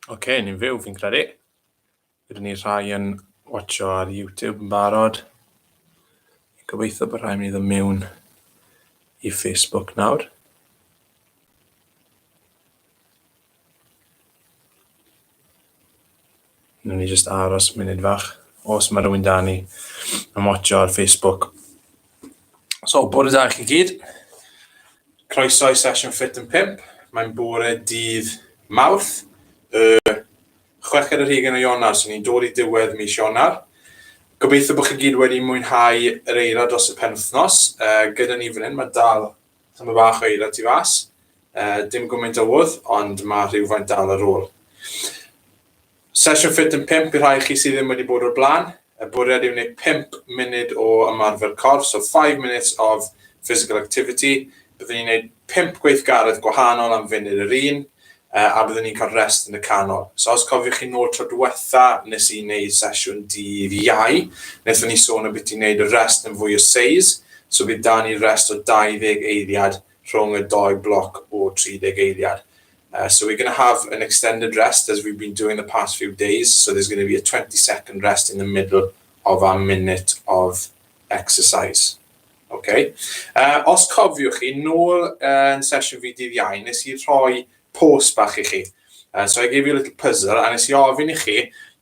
Oce, okay, ni'n fyw fi'n credu. Rydyn ni rhai yn watcho ar YouTube yn barod. Gobeithio bod rhai mynd i mewn i Facebook nawr. Nw'n ni just aros munud fach. Os mae rhywun da ni yn watcho ar Facebook. So, bore da i chi gyd. Croeso i sesiwn Fit yn 5. Mae'n bore dydd mawrth, y chweched yr hugen o Ionar, so ni'n dod i diwedd mis Ionar. Gobeithio bod chi gyd wedi mwynhau yr eira dros y penwthnos. Uh, gyda ni fan hyn, mae dal Tyma bach o eira tu fas. Uh, dim gwmynt o wodd, ond mae rhywfaint dal ar ôl. Sesiwn ffit yn 5 i rhai chi sydd ddim wedi bod o'r blaen. Y bwriad yw wneud 5 munud o ymarfer corff, so 5 minutes of physical activity. Byddwn ni'n gwneud 5 gweithgaredd gwahanol am funud yr un. a byddwn ni'n cael rest yn y canol. So os cofiwch chi nôl tro diwetha nes i wneud sesiwn dydd Iau, wnaethon ni sôn o beth i wneud y rest yn fwy o seis, so bydd da ni rest o 20 eiliad rhwng y dou bloc o 30 eiliad. Uh, so we're going to have an extended rest as we've been doing the past few days. So there's going to be a 20 second rest in the middle of our minute of exercise. Ok. Os cofiwch chi, nôl yn sesiwn fi dydd Iau, nes i rhoi post bach i chi. Uh, so I gave you a little puzzle, a nes i ofyn i chi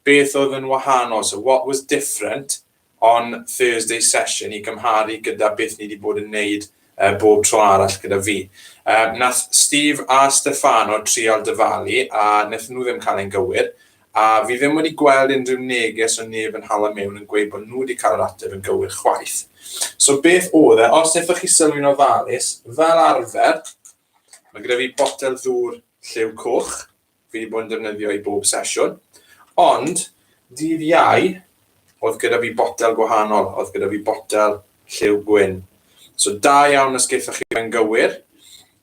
beth oedd yn wahanol, so what was different on Thursday session i gymharu gyda beth ni wedi bod yn neud uh, bob tro arall gyda fi. Uh, nath Steve a Stefano trial dyfalu a nath nhw ddim cael ein gywir, A fi ddim wedi gweld unrhyw neges o neb yn hala mewn yn gweud bod nhw wedi cael yr ateb yn gywir chwaith. So beth oedd e? Os wnaethoch chi sylwi'n ofalus, fel arfer, mae gyda fi botel ddŵr lliw coch, fi wedi bod yn defnyddio i bob sesiwn, ond dydd iau, oedd gyda fi botel gwahanol, oedd gyda fi botel lliw gwyn. So da iawn os geithoch chi fe'n gywir,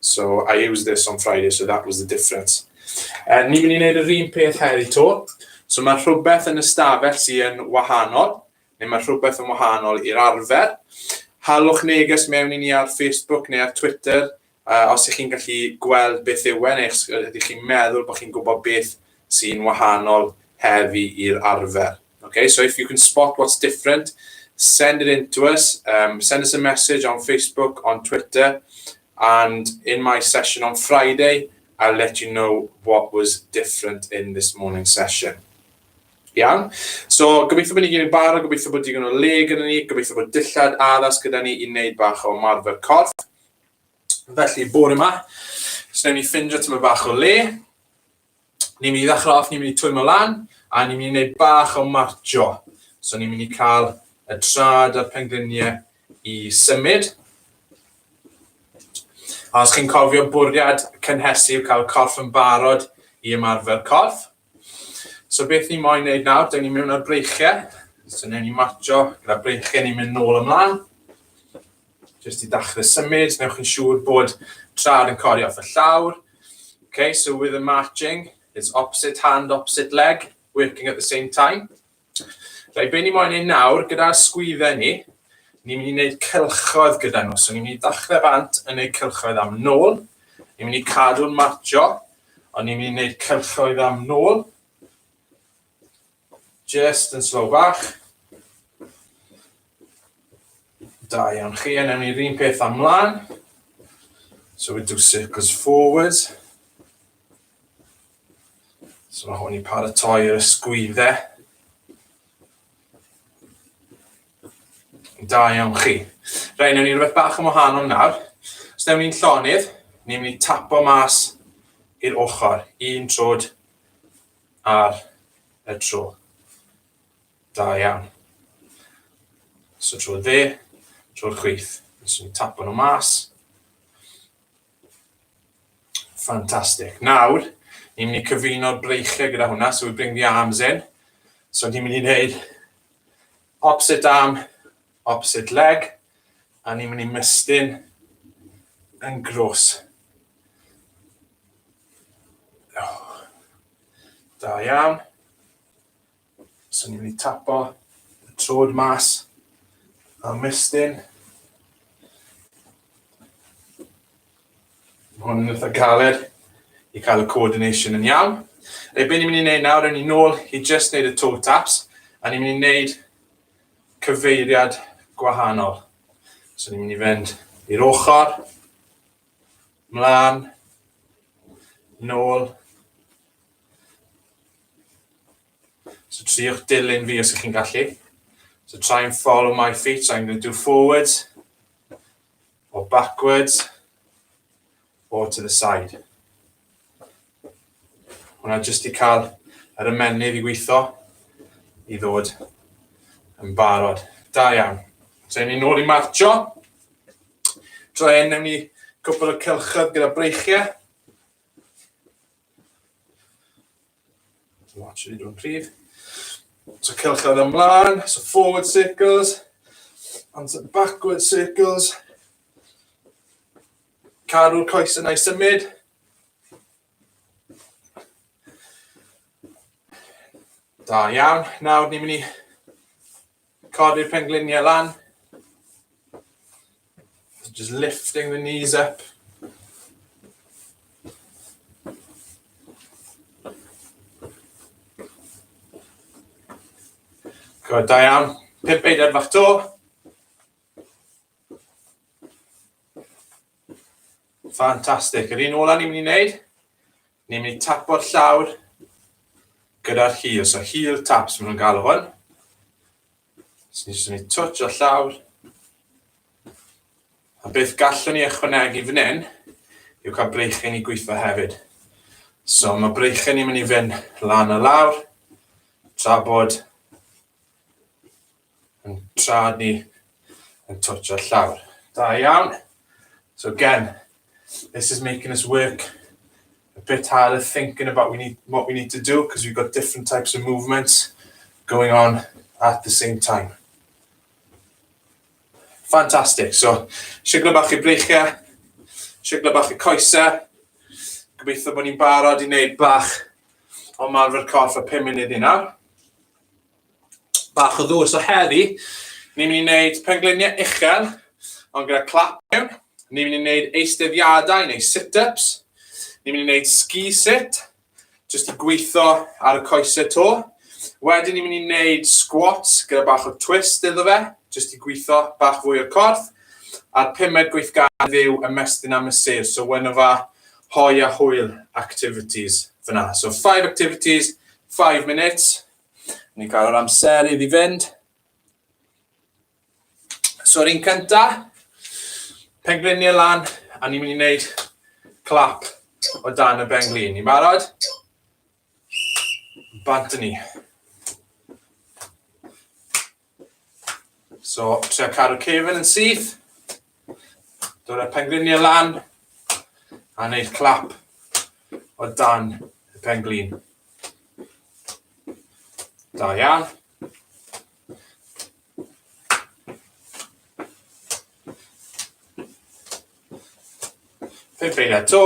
So I used this on Friday so that was the difference. Uh, ni'n mynd i wneud yr un peth heddi to. So mae rhywbeth yn y stafell sy'n wahanol, neu mae rhywbeth yn wahanol i'r arfer. Halwch neges mewn i ni ar Facebook neu ar Twitter, uh, os ych chi'n gallu gweld beth yw e, neu ydych chi'n meddwl bod chi'n gwybod beth sy'n wahanol heddi i'r arfer. Okay, so if you can spot what's different, send it in to us. Um, send us a message on Facebook, on Twitter, and in my session on Friday, I'll let you know what was different in this morning's session. Iawn? So, gobeithio bod ni gyd yn barod, gobeithio bod digon o le gyda ni, gobeithio bod dillad addas gyda ni i wneud bach o marfer corff. Felly, bore yma, so newn ni ffindio tyma bach o le. ni'n mynd i ddechrau off, ni'n mynd i twymo lan, a ni'n mynd i wneud bach o marcio. So ni'n mynd i cael y trad a'r pengliniau i symud. A os chi'n cofio bwriad cynhesu yw cael corff yn barod i ymarfer corff. So beth ni'n moyn wneud nawr, dyn ni'n mynd ar breichiau. So ni'n mynd i marcio gyda breichiau, ni'n mynd nôl ymlaen. Jyst i ddechrau symud, newch chi'n siŵr bod trad yn codi off y llawr. Okay, so with the marching, it's opposite hand, opposite leg, working at the same time. Rai, be ni moyn ei nawr, gyda'r sgwydde ni, ni'n mynd i wneud cylchoedd gyda nhw. So ni'n mynd i ddechrau bant yn gwneud cylchoedd am nôl, ni'n mynd i cadw'n marcho, ond ni'n mynd i wneud cylchoedd am nôl. Jyst yn slow bach. Da iawn chi, a newn ni'r un peth am mlaen. So we do circles forward. So mae hwn i paratoi yr ysgwyddau. Da iawn chi. Rhaid, newn ni rhywbeth bach yn wahanol nawr. Os newn ni'n llonydd, ni'n mynd i tapo mas i'r ochr, un trod ar y tro. Da iawn. So trwy dde, trwy'r chwith. Nes i'n tapo nhw mas. Fantastic. Nawr, ni'n mynd i cyfuno'r breichiau gyda hwnna, so we bring the arms in. So ni'n mynd i wneud opposite arm opposite leg a ni'n mynd i mestyn yn gros. Oh. Da iawn. So ni'n mynd i tapo y trod mas a mestyn. Hwn yn eitha galed i cael y coordination yn iawn. Rhaid beth ni'n mynd i wneud nawr, yn ni'n nôl i just wneud y toe taps, a ni'n mynd i wneud cyfeiriad gwahanol. So ni'n mynd i fynd i'r ochr, mlaen, nôl. So triwch dilyn fi os ych chi'n gallu. So try and follow my feet. So I'm going to do forwards, or backwards, or to the side. Hwna jyst i cael yr ymennydd i weithio i ddod yn barod. Da iawn. Dre ni nôl i marcio. Dre, newn ni cwpl o cylchoedd gyda breichiau. Watch it o'n prif. So cylchoedd ymlaen, so forward circles, and some backward circles. Cadw'r coes yna i symud. Da iawn. Nawr ni'n mynd i codi'r pengliniau lan. Just lifting the knees up. Good, da iawn. Pimp eidad fach to. Fantastic. Yr un ola ni'n mynd i wneud, ni'n mynd i tapo'r llawr gyda'r hil. So hil taps, maen nhw'n galw hwn. So ni'n mynd i twtch o'r llawr. A beth gallwn ni ychwanegu fan hyn yw cael breichyn i gweithio hefyd. So mae breichyn ni'n mynd i fynd lan a lawr, tra bod Yn tra ni yn tortio'r llawr. Da iawn. So again, this is making us work a bit harder thinking about we need, what we need to do because we've got different types of movements going on at the same time. Fantastic. So, siglo bach i breichiau, siglo bach i coesau. Gobeithio bod ni'n barod i wneud bach o marfer corff a 5 munud i nawr. bach o ddŵr. So heddi, ni'n mynd i wneud pengliniau uchel, ond gyda clap mewn. Ni'n mynd i wneud eisteddiadau neu sit-ups. Ni'n mynd i wneud ski sit, jyst i gweithio ar y coesau to. Wedyn ni'n mynd i wneud squats gyda bach o twist iddo fe, jyst i gweithio bach fwy o'r corff. A'r pumed gweithgaredd yw ymestyn am y sir, so one of our hoi a hwyl activities fyna. So five activities, five minutes, Ni cael yr amser iddi fynd. So yr un cynta, pengliniau lan, a ni'n mynd i wneud clap o dan y benglin. Ni'n barod? Bant ni. So, trio cadw cefn yn syth. Dod â'r pengliniau lan. A wneud clap o dan y penglin. Da iawn. Fe ffeil eto.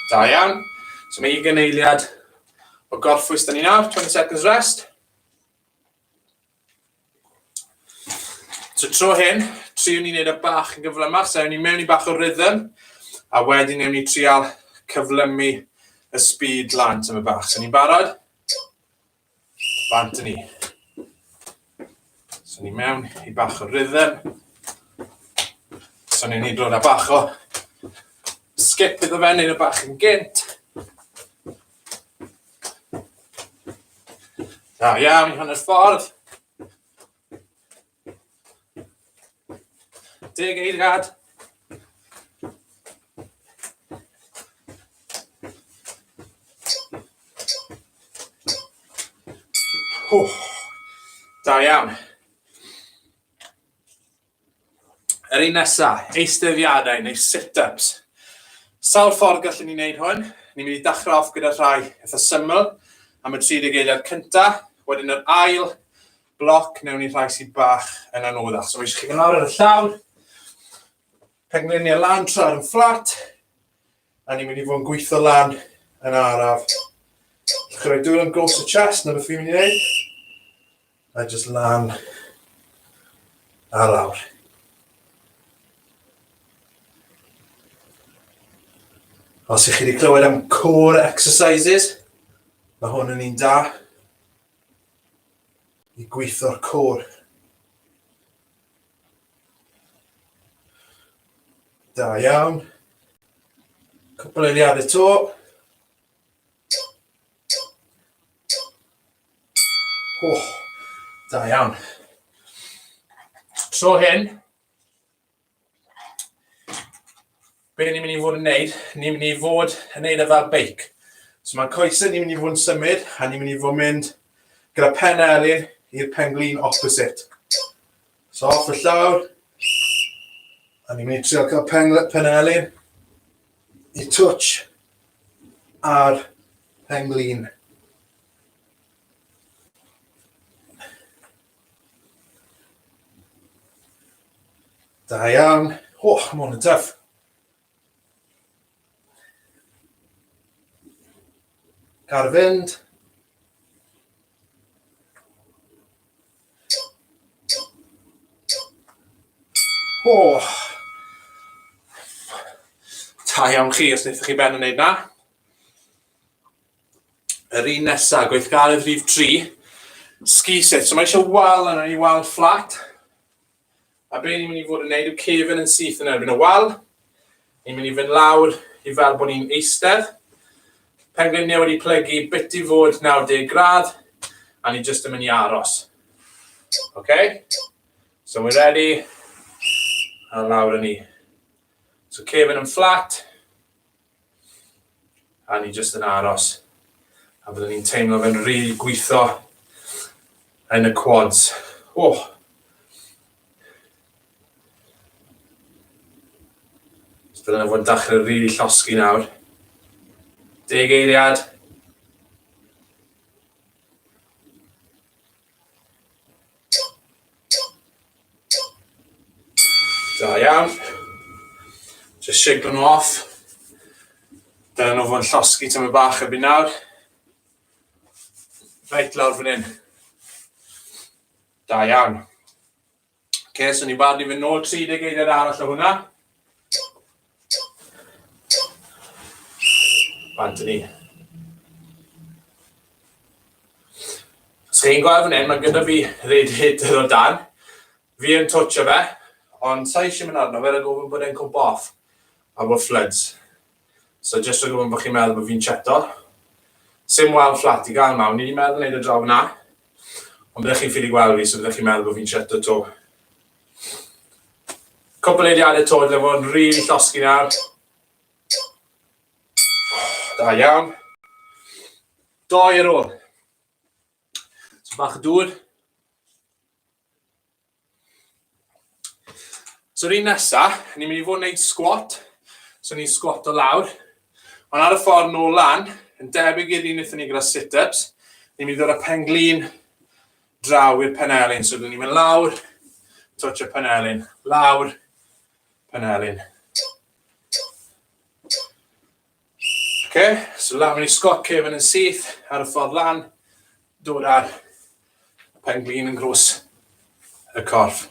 Da iawn. So mae ugen eiliad o gorffwys da ni nawr, 20 seconds rest. So tro hyn, triwn ni wneud y bach yn gyflymach, so ewn ni mewn i bach o rhythm, a wedyn ewn ni trial cyflymu y speed lan tyma bach. So ni'n barod? Bant yn ni. So ni mewn i bach o rhythm. So ni'n hydro na bach o skip iddo fe, neu bach yn gynt. Da iawn i hanner ffordd. Deg eiliad. Oh, da iawn. Yr un nesaf, eistefiadau neu sit-ups. Sawl ffordd gallwn ni wneud hwn? Ni'n mynd i dechrau off gyda rhai eitha syml am y 30 eiliad cyntaf, wedyn yr ail bloc newn ni rhai sydd bach yn anoddach. So mae eisiau chi fynd lawr ar y llawr, pengluniau lan tra ar yn fflat, a ni'n mynd i fod yn gweithio lan yn araf. Chi'n rhoi dwylo yn gos y chest, na beth fi'n mynd i wneud. A just lan a lawr. Os ych chi wedi clywed am core exercises, mae hwn yn un da. i gweithio'r côr. Da iawn. Cwpl eiliad eto. Oh, da iawn. Tro hyn, Be ni'n mynd i fod yn neud? Ni'n mynd i fod yn neud e fel beic. So mae'r coesau ni'n mynd i fod yn symud a ni'n mynd i fod yn mynd gyda pen elin i'r pen glin opposite. So off y llawr, a ni'n mynd i trio cael pen, pen elin i twtch ar pen glin. Da iawn. O, oh, mae hwn yn tuff. Car fynd. O! Oh. Ta iawn chi os wnaethoch chi ben yn neud na. Yr un nesaf, gweithgaredd rhif 3, ski set. So mae eisiau wal yna ni, wal fflat. A be ni'n mynd i fod yn neud yw cefn yn syth yn erbyn y wal. Ni'n mynd i fynd lawr i fel bod ni'n eistedd. Pengliniau wedi plygu bit i fod 90 gradd, a ni jyst yn mynd i aros. Okay? So we're ready. A lawr yn ni. So cefn yn fflat. A ni jyst yn aros. A byddwn ni'n teimlo fe'n rhy gweithio yn y quads. Oh! So dyna fod yn dachrau rili really llosgi nawr. Deg eiliad. Da iawn. Just shake nhw off. Dyna nhw fod llosgi tyma bach y byd nawr. Reit lawr fan hyn. Da iawn. okay, so ni'n barod i fynd nôl 30 eiliad arall o hwnna. Bant ni. Os chi'n gweld fan hyn, mae gyda fi rhaid hyder o dan. Fi yn twtio fe, ond sa'i eisiau mynd arno fe, rhaid gofyn bod e'n cwmp off. A bod floods. So jyst rhag ofn bo chi'n meddwl bo fi'n cheto. Sim wal fflat i gael 'ma, o'n i 'di meddwl neud e draw fan'na, ond byddech chi'n ffili gweld fi so byddech chi'n meddwl bo fi'n cheto 'to. Cwpl eiliade 'to dyle fod yn rili llosgi nawr. Da iawn. Doi ar ôl. So bach o dŵr. So rhywun nesa, ni'n mynd i fod yn gwneud sgwat, so ni'n sgwat o lawr, ond ar y ffordd nôl lan, yn debyg i'r un wnaethon ni gyda sit-ups, ni'n mynd i ddod â pen glin draw i'r penelin, so ni'n mynd lawr, twtch y penelin, lawr, penelin. Oce, so lan mynd i Scott Caven yn syth ar y ffordd lan, dod ar y pen glin yn grws y corff.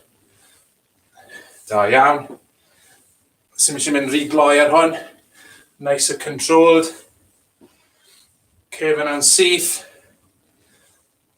Da iawn. Sym eisiau mynd rhy gloi ar hwn. Nice a controlled. Caven yn syth.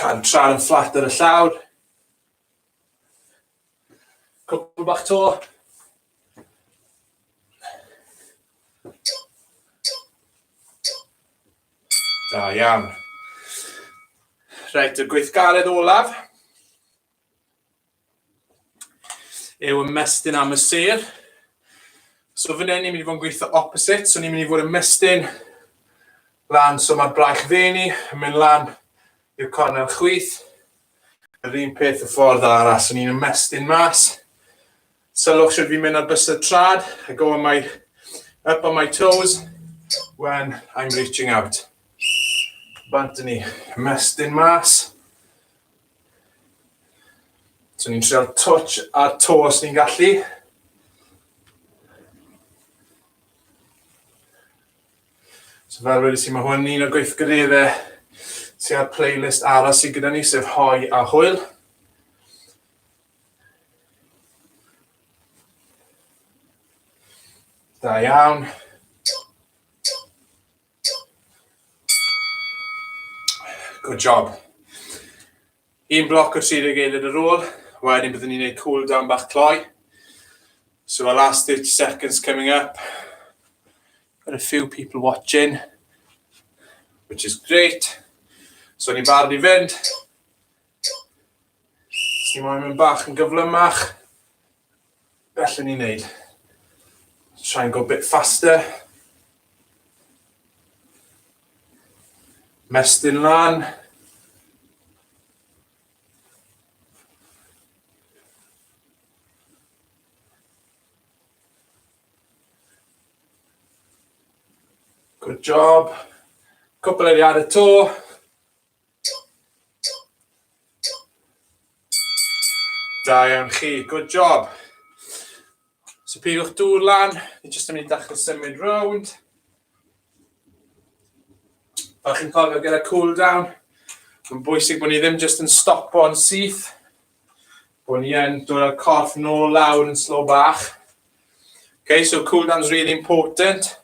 Can tran yn fflat ar y llawr. Cwpl bach to. Da iawn. Reit, y gweithgaredd olaf. yw ymestyn am y sêr. So fan hyn ni'n mynd i fod yn gweithio opposite, so ni'n mynd i fod ymestyn lan, so mae'r braich dde ni yn mynd lan i'r cornel chwith. Yr un peth y ffordd arall, so ni'n ymestyn mas, Sylwch sut fi'n mynd ar bysedd trad. I go on my, up on my toes when I'm reaching out. Bant ni, mestyn mas. So ni'n treol touch ar to os ni'n gallu. So fel wedi si, mae hwn un o'r gweithgareddau sy'n ar playlist aros i gyda ni, sef hoi a hwyl. Da iawn. Good job. Un bloc o 30 eilid ar ôl. Wedyn byddwn ni'n gwneud cool down bach cloi. So our last 30 seconds coming up. Got a few people watching, which is great. So ni'n barod i fynd. Os ni moyn mynd bach yn gyflymach, gallwn ni wneud. Try and go a bit faster. Mestyn lan. Good job. Cwpl eiliad eto. Da iawn chi, good job. So pigwch dŵr lan, ni jyst yn mynd i ddechrau symud rownd. Fel chi'n cofio gyda cool down, mae'n bwysig bod ni ddim jyst yn stopo yn syth, bod ni yn dod â'r corff nôl lawr yn slow bach. Okay, so cool down is really important.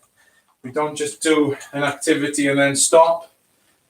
We don't just do an activity and then stop.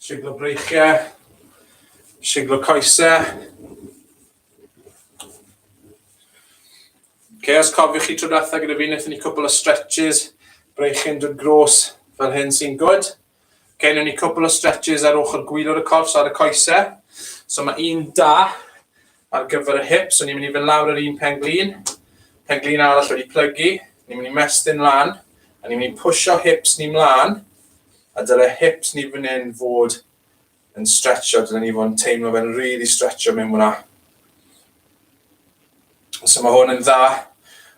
Siglo breichiau, siglo coesau. Okay, os cofiwch chi trwy ddatha gyda fi, wnaethon ni cwbl o stretches, breichyn dod gros fel hyn sy'n gwyd. Okay, wnaethon ni cwbl o stretches ar ochr gwylwr y corff, so ar y coesau. So mae un da, Ar gyfer y hips, so ni'n mynd i fynd lawr yr un pen-glin, pen-glin arall wedi plygu, ni'n mynd i mestyn lan, a ni'n mynd i pwysio hips ni mlaen, a dyle hips ni fan hyn fod yn stretcho, dyle ni fod yn teimlo fe'n rili really stretcho mewn hwnna. So mae hwn yn dda,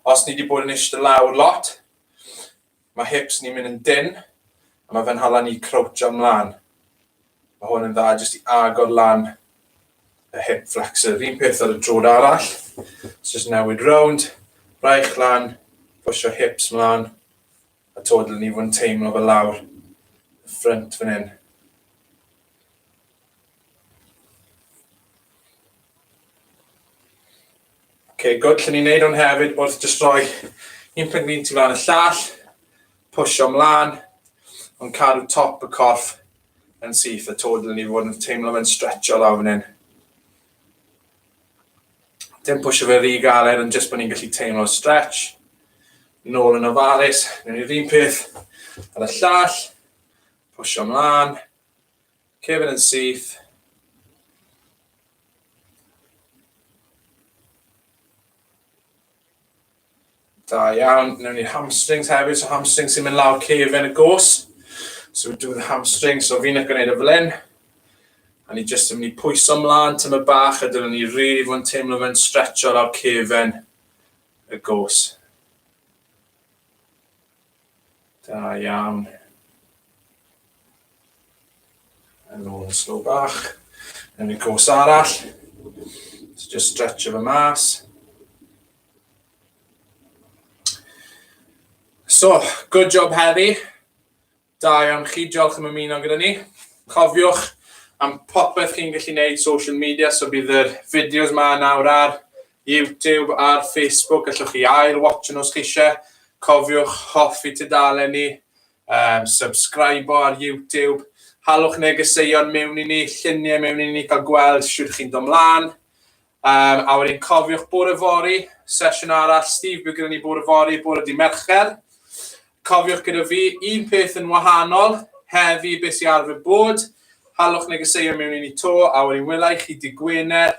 os ni wedi bod yn eistedd lawr lot, Mae hips ni'n mynd yn dynn a mae fy nghalon i crouchio mlaen. Mae hwn yn dda jyst i agor lan y hip flexor. Yr un peth ar y drod arall. So just newid rownd, braich lan, pwysio hips mlaen a todl ni fod yn teimlo fel lawr y ffrynt fan hyn. Okay, good. Llen ni'n neud hwn hefyd wrth just roi un pwynt mi'n tu flaen y llall, pwysio mlaen, ond cadw top y corff yn syth y tod yn ni fod yn teimlo fe'n stretcho lawr fan hyn. Dim pwysio fe rhy galed, ond jyst bod ni'n gallu teimlo stretch. Nôl yn ofalus, newn ni'r un peth ar y llall, pwysio mlaen, Cefn yn syth. Da iawn. Newn ni hamstrings hefyd. So hamstrings sy'n mynd lawr cefn y gos. So do the hamstrings. So fi'n gwneud y fel hyn. A ni jyst yn mynd i pwyso mlaen tymor bach a dyna ni rili really fod yn teimlo fe'n stretcho lawr cefn y gos. Da iawn. Yn ôl yn slow bach. Yn y cwrs arall. So just stretch efo mas. So, good job heddi. Da iawn chi, diolch am ymuno gyda ni. Cofiwch am popeth chi'n gallu gwneud social media, so bydd yr fideos ma nawr ar YouTube ar Facebook, gallwch chi ail watch nhw os chi eisiau. Cofiwch hoffi tudalen ni, um, subscribe ar YouTube, halwch negeseuon mewn i ni, lluniau mewn i ni, cael gweld sydd chi'n dod mlaen. Um, a wedyn cofiwch bore fori, sesiwn arall, Steve bydd gyda ni bore fori, bore di mercher. Cofiwch gyda fi, un peth yn wahanol, heddi beth sy'n arfer bod, halwch negeseuon mewn i ni to, a wedyn wylai chi di Gwener,